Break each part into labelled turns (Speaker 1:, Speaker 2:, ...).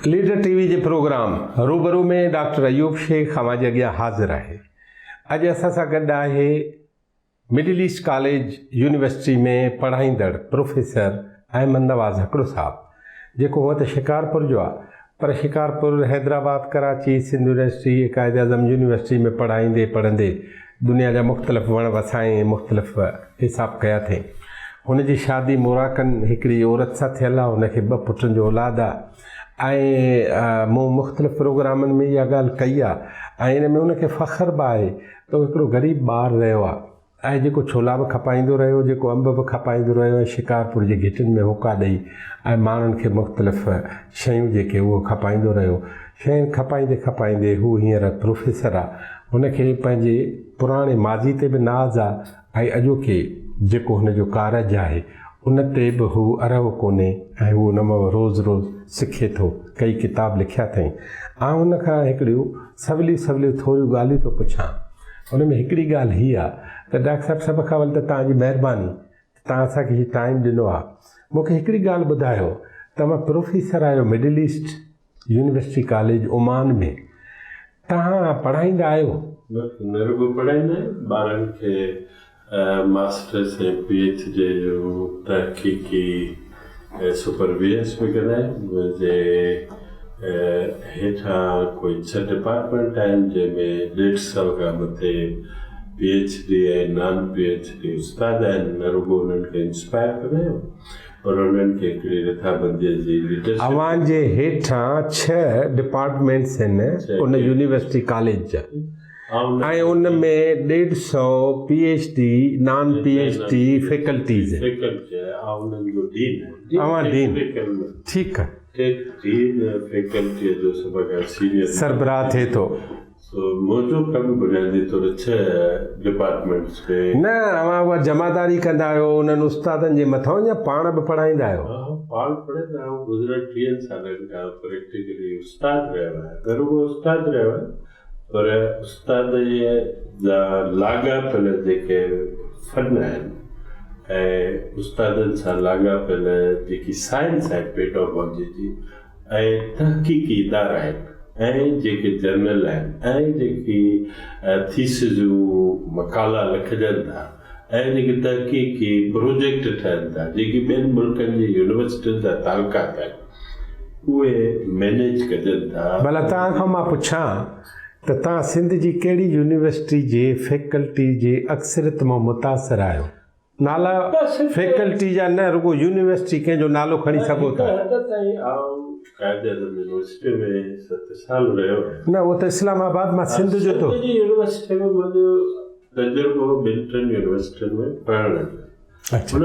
Speaker 1: Leader T V جي programme روبرو ۾ doctor Ayub Shaikh اوهان جي اڳيان حاضر آهي اڄ اسان سان گڏ آهي مڊل ايسٽ ڪاليج يونيورسٽي ۾ پڙهائيندڙ پروفيسر احمد نواز هڪڙو صاحب جيڪو هونئن ته شڪارپور جو آ پر شڪارپور، حيدرآباد، ڪراچي، سنڌ يونيورسٽي ۽ قائداعظم يونيورسٽي ۾ پڙهائيندي پڙهندي دنيا جا مختلف وڻ وسائين ۽ مختلف حساب ڪيا اٿئين. هن جي شادي موراڪن هڪڙي عورت سان ٿيل آ، هن کي ٻه پٽن جو اولاد آ ۽ مون مختلف پروگرامن ۾ اها ڳالهه ڪئي آ ۽ ان ۾ هن کي فخر به آهي ته هو هڪڙو غريب ٻار رهيو آ. ۽ جيڪو ڇولا به کپائيندو رهيو، جيڪو انب به کپائيندو رهيو ۽ شڪارپور جي گهٽين ۾ هوڪا ڏئي ۽ ماڻهن کي مختلف شيون جيڪي اهو کپائيندو رهيو. شين کپائيندي کپائيندي هو هينئر پروفيسر آ. هن کي پنهنجي پراڻي ماضي تي به ناز آ ۽ اڄوڪي جيڪو هن جو ڪارج آهي، ان تي به هو ارهو ڪونهي ۽ هو ان مان روز روز سکي ٿو. ڪيئي ڪتاب لکيا اٿئين. آئون ان کان هڪڙيون سوليون سوليون ٿوريون ڳالهيون ٿو پڇان. ان ۾ هڪڙي ڳالهه هي آ ته ڊاڪٽر صاحب سڀ کان اول ته توهان جي مهرباني ته توهان اسان کي هي ٽائيم ڏنو آ. مون کي هڪڙي ڳالهه ٻڌايو ته اوهان پروفيسر آهيو Middle East university college Oman ۾ توهان پڙهائيندا آهيو؟ بلڪل نه رڳو
Speaker 2: پڙهائيندا آهيون ٻارن کي ماسٽرس ۽ پي ايڇ ڊي جو تحقيقي سپر ويئنس به ڪندا آهيون منهن جي هيٺان ڪوئي ڇهه ڊپارٽمينٽ آهن جنهن ۾ ڏيڍ سئو کان مٿي P H D ۽ non P H D استاد آهن نه رڳو انهن کي انسپائر ڪندا آهيون پر انهن کي هڪڙي رٿابنديء جي ليڊرشپ ۾ اوهان جي هيٺان
Speaker 1: ڇهه ڊپارٽمينٽس هن ان يونيورسٽي ڪاليج جا ۽ ان ۾ ڏيڍ سئو P H D non P H D faculties هن.
Speaker 2: فيڪلٽي آهي آء انهن جو ڊين آهيان. اوهان
Speaker 1: ڊين ٺيڪ آهي. ٽيڪ ڊين
Speaker 2: فيڪلٽيء جو سڀ کان سينيئر سربراهه ٿئي ٿو.
Speaker 1: سو موجو
Speaker 2: کان به بنيادي طور ڇهه ڊپارٽمينٽس کي. نه اوهان اها
Speaker 1: جمعداري ڪندا آهيو انهن استادن جي مٿان يا پاڻ به پڙهائيندا آهيو؟ ها ها پاڻ پڙهائيندا
Speaker 2: آهيون گذريل ٽيهن سالن کان پريڪٽيڪلي استاد رهيو آهيان نه رڳو استاد رهيو آهيان پر استاد جا لاڳاپيل جيڪي فن آهن ۽ استادن سان لاڳاپيل جيڪي سائنس آهي پيڊاگوجي جي ۽ تحقيقي ادارا آهن ۽ جيڪي جرنل آهن ۽ جيڪي ٿيسز مقالا لکجن ٿا ۽ جيڪي تحقيقي پروجيڪٽ ٺهن ٿا جيڪي ٻين ملڪن جي يونيورسٽين سان تعلقات آهن اهي مينيج ڪجن ٿا. ڀلا توهان کان مان
Speaker 1: پڇان ته توهان سنڌ جي ڪهڙي يونيورسٽي جي فيڪلٽي جي اڪثريت مان متاثر آهيو؟ نالا فيڪلٽي جا نه رڳو يونيورسٽي ڪنهن جو نالو کڻي سگهو ٿا.
Speaker 2: نه اهو ته اسلام
Speaker 1: آباد مان سنڌ جو
Speaker 2: ٿو. اچا.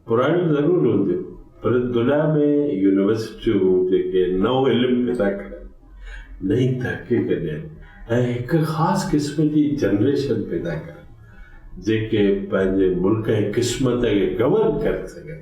Speaker 2: پراڻيون ضرور هونديون پر دنيا ۾ يونيورسٽيون جيڪي نئون علم پيدا ڪرن، نئين تحقيق ڏين ۽ هڪ خاص قسم جي جنريشن پيدا ڪرن جيڪي پنهنجي ملڪ ۽ قسمت کي گورن ڪري سگهن،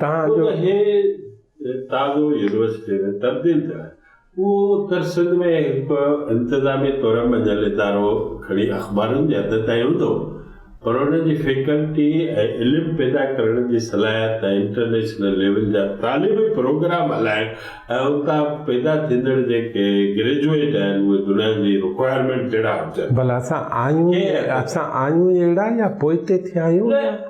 Speaker 2: تان جو هي تازو يونيورسٽي ۾ تبديل ٿيو آهي، اهو اتر سنڌ ۾ هڪ انتظامي طور مڃيل ادارو کڻي اخبارن جي حد تائين هوندو، پر ان جي فيڪلٽي ۽ علم پيدا ڪرڻ جي صلاحيت ۽ انٽرنيشنل ليول جا تعليمي پروگرام هلائڻ ۽ اتان پيدا ٿيندڙ جيڪي گريجوئيٽ آهن اهي دنيا جي رڪوائرمينٽ جهڙا هجن. ڀلا
Speaker 1: اسان آهيون ئي اهڙا يا پوئتي ٿيا آهيون؟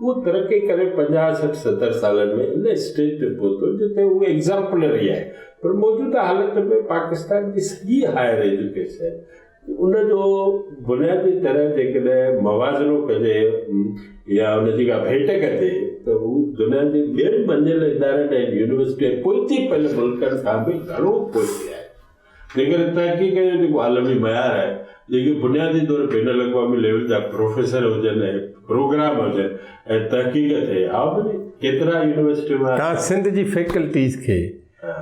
Speaker 2: اهو ترقي ڪري پنجاهه سٺ ستر سالن ۾ ان اسٽيج تي پهتو جتي اهو ايگزامپلري آهي پر موجوده حالت ۾ پاڪستان جي سڄي هائر ايجوڪيشن ان جو بنيادي طرح جيڪڏهن موازنو ڪجي يا ان جي ڪا ڀيٽ ڪجي ته هو دنيا جي ٻين مڃيل ادارن ۽ يونيورسٽين پوئتي پيل ملڪن کان به گهڻو پوئتي آهي تنهن ڪري تحقيق جو جيڪو عالمي معيار آهي، جيڪي بنيادي طور بين الاقوامي ليول جا پروفيسر هجن ۽ پروگرام هجن ۽ تحقيق ٿئي ها ڀلي ڪيترا يونيورسٽي مان. توهان سنڌ جي فيڪلٽيز
Speaker 1: کي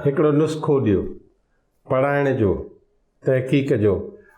Speaker 1: هڪڙو نسخو ڏيو پڙهائڻ جو، تحقيق جو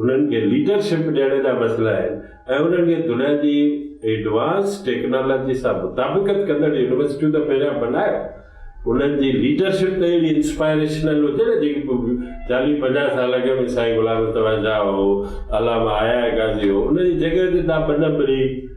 Speaker 2: انهن کي ليڊر شپ ڏيڻ جا مسئلا آهن ۽ انهن کي دنيا جي ايڊوانس ٽيڪنالاجي سان مطابقت ڪندڙ يونيورسٽيون ته پهريان بنايو، انهن جي ليڊر شپ ته اهڙي انسپائريشنل هجي نه جيڪي پوء چاليهه پنجاهه سال اڳ ۾ سائين غلام مصطفيٰ شاهه هو، علامه آيا غازي هو، ان جي جڳهه تي تان ٻه نمبري،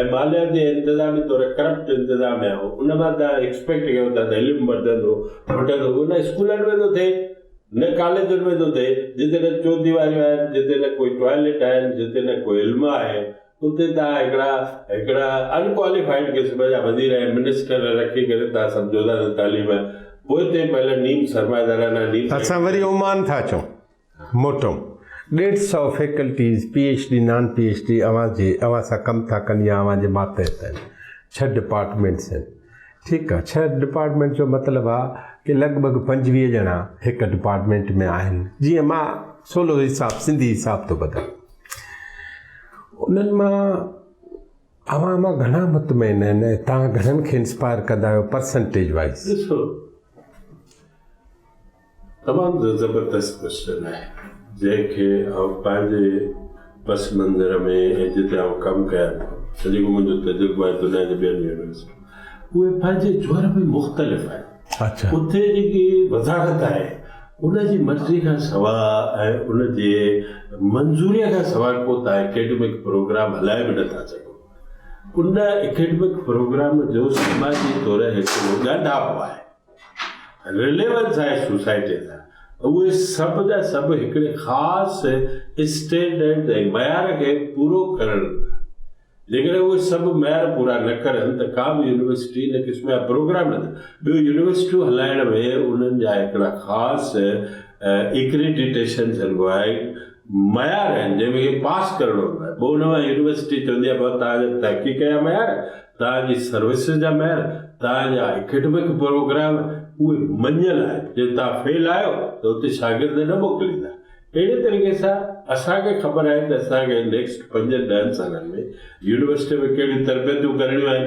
Speaker 2: ۽ ماليات جي انتظامي طور ڪرپٽ انتظام يا هو ان مان تان ايڪسپيڪٽ ڪيو ٿا ته علم وڌندو ڦٽندو اهو نه اسڪولن ۾ ٿو ٿئي نه ڪاليجن ۾ ٿو ٿئي جتي نه چوديواريون آهن جتي نه ڪوئي ٽوائليٽ آهن جتي نه ڪو علم آهي اتي تان هڪڙا هڪڙا ان ڪواليفائيڊ قسم جا وزير ۽ منسٽر رکي ڪري تان سمجهو ٿا ته تعليم پوئتي پهل نيم سرمائيدارانه نيم اسان وري عمان ٿا اچون
Speaker 1: موٽو، ڏيڍ سؤ faculties, P H D, non P H D اوهان جي اوهان سان ڪم ٿا ڪن يا اوهان جي ماتحت آهن. ڇهه ڊپارٽمينٽس آهن. ٺيڪ آهي. ڇهه ڊپارٽمينٽس جو مطلب آهي ڪي لڳ ڀڳ پنجويهه ڄڻا هڪ ڊپارٽمينٽ ۾ آهن. جيئن مان سولو حساب سنڌي حساب ٿو ٻڌان. انهن مان اوهان مان گهڻا مطمئن آهن ۽ توهان گهڻن کي انسپائر ڪندا آهيو پرسنٽيج وائيز.
Speaker 2: تمام زبردست ڪوئسچن آهي جنهن کي آئون پنهنجي پس منظر ۾ ۽ جتي آئون ڪم ڪيان ٿو ۽ جيڪو منهنجو تجربو آهي دنيا جي ٻين يونيورسٽين اهي پنهنجي جوهر ۾ مختلف آهن اتي
Speaker 1: جيڪي
Speaker 2: وضاحت آهي ان جي مرضي کان سواء ۽ ان جي منظوريء کان سواء ڪو تان اڪيڊمڪ پروگرام هلائي به نه ٿا سگهو ان اڪيڊمڪ پروگرام جو سماجي طور هڪڙو ڳانڍاپو آهي. رليونس آهي سوسائٽي سان اهي سڀ جا سڀ هڪڙي خاص اسٽينڊرڊ ۽ معيار کي پورو ڪرڻ هوندا جيڪڏهن اهي سڀ معيار پورا نه ڪرن ته ڪا به يونيورسٽي ان قسم جا پروگرام نه ٿيندا ٻيو يونيورسٽيون هلائڻ ۾ انهن جا هڪڙا خاص اڪريڊيٽيشن ٿينبو آهي معيار آهن جنهن ۾ کي پاس ڪرڻو هوندو آهي پوء ان مان يونيورسٽي چوندي آهي بابا توهان جا تحقيق جا معيار توهان جي سروسز جا معيار توهان جا اڪيڊمڪ پروگرام اهي مڃيل آهن جي توهان فيل آهيو ته اتي شاگرد نه موڪليندا اهڙي طريقي سان اسان کي خبر آهي ته اسان کي نيڪسٽ پنجن ڏهن سالن ۾ يونيورسٽي ۾ ڪهڙيون تربيتون ڪرڻيون آهن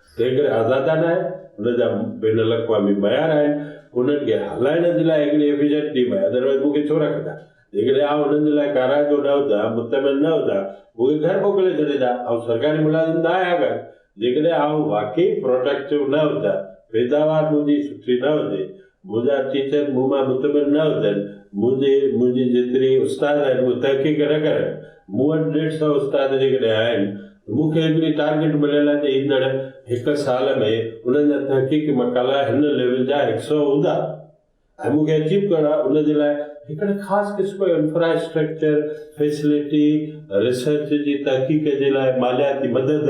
Speaker 2: تنهن ڪري آزادانه آهي، ان جا بين الاقوامي معيار آهن، انهن کي هلائڻ جي لاء هڪڙي ايفيشنٽ ٽيم آهي، ادروائز مون کي ڇو رکندا، جيڪڏهن آئون انهن جي لاء ڪارائتو نه هجان، مطمئن نه هجان، مون کي گهر موڪلي ڇڏيندا، آئون سرڪاري ملازم نه آهيان ڪا، جيڪڏهن آئون واقعي پروڊڪٽو نه هجان، پيداوار منهنجي سٺي نه هجي، منهنجا ٽيچر مون مان مطمئن نه هجن، منهنجي منهنجي جيتري استاد آهن اهي تحقيق نه ڪرن، مون وٽ ڏيڍ سئو استاد جيڪڏهن آهن ته مون کي هڪڙي ٽارگيٽ مليل آهي ته ايندڙ هڪ سال ۾ انهن جا تحقيقي مقالا هن ليول جا هڪ سئو هوندا ۽ مون کي اچيو ڪرڻ آهي ان جي لاء هڪڙي خاص قسم جو انفراسٽرڪچر، فيسلٽي، ريسرچ جي تحقيق جي لاء مالياتي مدد،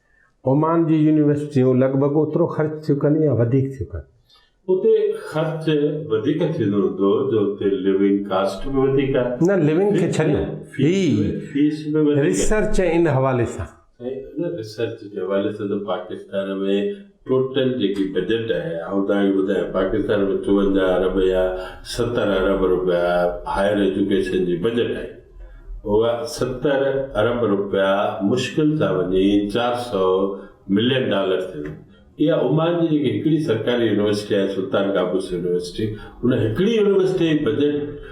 Speaker 1: اومان جون يونيورسٽيون لڳ ڀڳ اوترو خرچ ٿيون ڪن يا وڌيڪ ٿيون ڪن. اتي
Speaker 2: خرچ وڌيڪ ٿيندو هوندو جو اتي لوينگ ڪاسٽ به وڌيڪ آهي. نه لوينگ کي ڇڏيو
Speaker 1: هي
Speaker 2: ريسرچ ان حوالي
Speaker 1: سان. سائين ان ريسرچ
Speaker 2: جي حوالي سان ته پاڪستان ۾ ٽوٽل جيڪي بجيٽ آهي آئون توهان کي ٻڌايان پاڪستان ۾ چوونجاهه ارب يا ستر ارب رپيا هائير ايجوڪيشن جي بجيٽ آهي اها ستر ارب رپيا مشڪل سان وڃي چار سئو ملين ڊالر ٿيندي اها عمان جي جيڪي هڪڙي سرڪاري يونيورسٽي آهي سلطان قابوس يونيورسٽي ان هڪڙي يونيورسٽي جي بجيٽ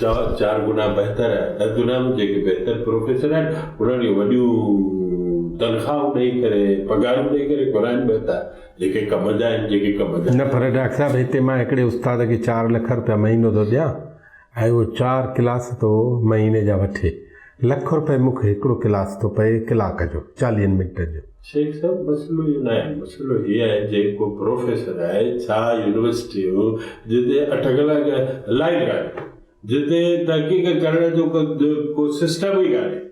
Speaker 2: سؤ چار گنا بهتر آهي، ڏھ گنا به جيڪي بهتر پروفيسر آهن انهن کي وڏيون تنخواهون ڏئي ڪري پگهارون ڏئي ڪري گهرائن بهتر جيڪي ڪم جا آهن جيڪي ڪم جا. نه پر ڊاڪٽر صاحب هتي
Speaker 1: مان هڪڙي استاد کي چار لک روپيا مهينو ٿو ڏيان ۽ اهو چار ڪلاس ٿو مهيني جا وٺي لک روپيه مک هڪڙو ڪلاس ٿو پئي ڪلاڪ جو چاليهن منٽن جو. شيخ صاحب مسئلو
Speaker 2: اهو ناهي مسئلو هي آهي جيڪو پروفيسر آهي ڇا يونيورسٽيون جتي اٺ ڪلاڪ لائٽ ڪانهي جتي تحقيق ڪرڻ جو ڪو سسٽم ئي ڪانهي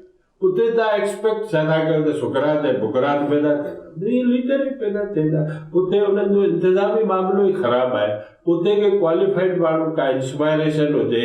Speaker 2: اتي تان ايڪسپيڪٽ ڇا ٿا ڪيو ته سقراط ۽ بقراط پيدا ٿيندا اهي ليڊر ئي پيدا ٿيندا اتي انهن جو انتظامي معاملو ئي خراب آهي اتي ڪي ڪواليفائيڊ ماڻهو ڪا انسپائريشن هجي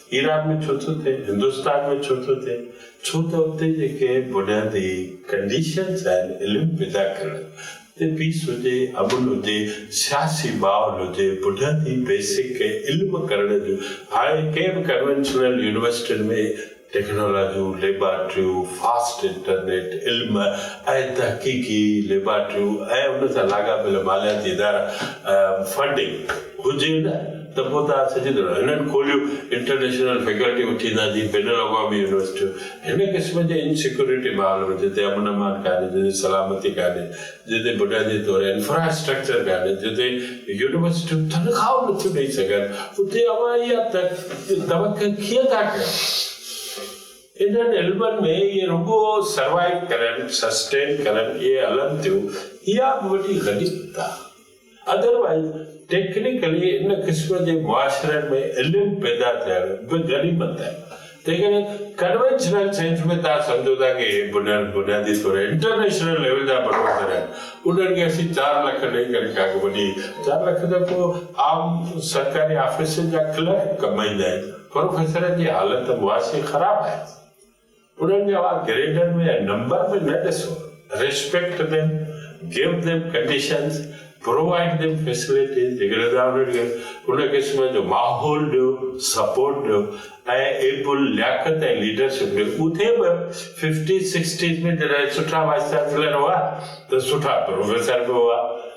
Speaker 2: ايران ۾ ڇو ٿو ٿئي، هندستان ۾ ڇو ٿو ٿئي، ڇو ته اتي جيڪي بنيادي ڪنڊيشنز آهن علم پيدا ڪرڻ جي پيس هجي، امن هجي، سياسي ماحول هجي، بنيادي بيسڪ علم ڪرڻ جون هاڻي ڪنهن به ڪنوينشنل يونيورسٽين ۾ ٽيڪنالاجيون، ليبارٽريون، فاسٽ انٽرنيٽ، علم ۽ تحقيقي ليبارٽريون ۽ ان سان لاڳاپيل مالياتي ادارا، فنڊنگ، هجي نه. ته پوء توهان سڄي دنيا هنن کوليون انٽرنيشنل فيڪلٽيون ٿيندا جي بين الاقوامي يونيورسٽيون هن قسم جي ان سيڪيورٽي ماحول ۾ جتي امن امان ڪانهي جتي سلامتي ڪانهي جتي بنيادي طور انفرا اسٽرڪچر ڪانهي جتي يونيورسٽيون تنخواهون نٿيون ڏئي سگهن اتي اوهان اها توقع ڪيئن ٿا ڪيو انهن علمن ۾ اهي رڳو سروائيو ڪرن سسٽين ڪرن اهي هلن ٿيون اها به وڏي غنيمت آهي. ادروائيز ٽيڪنيڪلي ان قسم جي معاشرن ۾ علم پيدا ٿيڻ به غنيمت آهي. جيڪڏهن ڪنوينشنل سينس ۾ توهان سمجهو ٿا ڪه هي بنياد بنيادي طور انٽرنيشنل ليول جا بلڊوزر آهن، انهن کي اسين چار لک ڏئي ڪري ڪا وڏي چار لک ته ڪو عام سرڪاري آفيسن جا ڪلرڪ ڪمائيندا آهن. پروفيسرن جي حالت معاشي خراب آهي. انهن جي اوهان گريڊن ۾ ۽ نمبر ۾ نه ڏسو، respect them, give them conditions, provide them facilities, جيڪڏهن توهان انهن کي ان قسم جو ماحول ڏيو، سپورٽ ڏيو ۽ ايپل لياقت ۽ ليڊرشپ ڏيو، اٿي به ففٽيز سڪسٽيز ۾ جڏهن سٺا وائيس چانسلر هئا ته سٺا پروفيسر به هئا.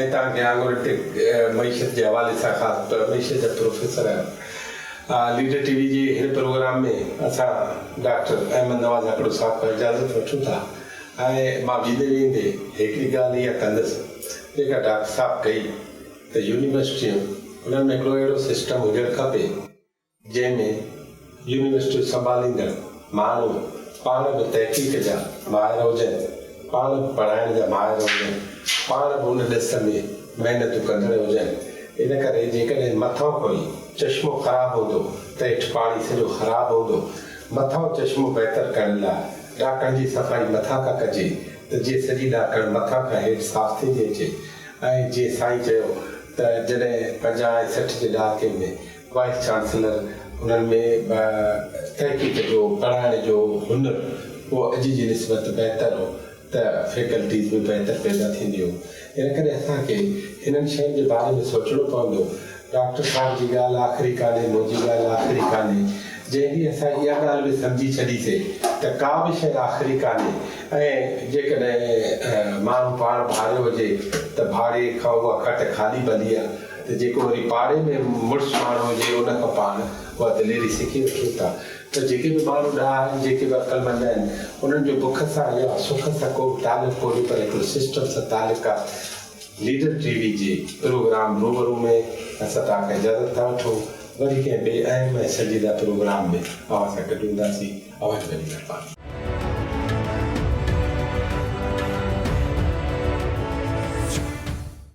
Speaker 1: ۽ تان کي آڱر ٽيڪ معيشت جي حوالي سان خاص طور معيشت جا پروفيسر آهيو. آء ليڊر ٽي وي جي هن پروگرام ۾ اسان ڊاڪٽر احمد نواز هڪڙو صاحب کان اجازت وٺون ٿا ۽ مان ويندي ويندي هڪڙي ڳالهه اها ڪندس جيڪا ڊاڪٽر صاحب ڪئي ته يونيورسٽيون انهن ۾ هڪڙو اهڙو سسٽم هجڻ کپي جنهن ۾ يونيورسٽيون سنڀاليندڙ ماڻهو پاڻ به تحقيق جا ماهر هجن، پاڻ به پڙهائڻ جا ماهر هجن، پاڻ به ان ڏس ۾ محنتون ڪندڙ هجن. ان ڪري جيڪڏهن مٿئون ڪوئي چشمو خراب هوندو ته هيٺ پاڻي سڄو خراب هوندو. مٿئون چشمو بهتر ڪرڻ لاء ڏاڪڻ جي صفائي مٿان کان ڪجي ته جيئن سڄي ڏاڪڻ مٿان کان هيٺ صاف ٿيندي اچي ۽ جيئن سائين چيو ته جڏهن پنجاهه ۽ سٺ جي ڏهاڪي ۾ وائيس چانسلر انهن ۾ تحقيق جو، پڙهائڻ جو هنر اهو اڄ جي نسبت بهتر هو ته فيڪلٽيز به بهتر پيدا ٿينديون. ان ڪري اسان کي انهن شين جي باري ۾ سوچڻو پوندو. ڊاڪٽر صاحب جي ڳالهه آخري ڪانهي، منهنجي ڳالهه آخري ڪانهي. جنهن ڏينهن اسان اها ڳالهه به سمجهي ڇڏيسي ته ڪا به شيء آخري ڪانهي ۽ جيڪڏهن ماڻهو پاڻ ڀاريو هجي ته ڀاڙي کان اها کٽ خالي ڀلي آهي. ته جيڪو وري پاڙي ۾ مڙس ماڻهو هجي ان کان پاڻ اها دليري سکي وٺيون ٿا ته جيڪي به ماڻهو ڏاها آهن، جيڪي به عقلمند آهن انهن جو بک سان يا سک سان ڪو به تعلق ڪونهي پر هڪڙو سسٽم سان تعلق آهي ليڊر ٽي وي جي پروگرام روبرو ۾ اسان توهان کان اجازت ٿا وٺون وري ڪنهن ٻئي اهم ۽ سنجيده پروگرام ۾ اوهان سان گڏ هونداسين اوهان جي وڏي مهرباني.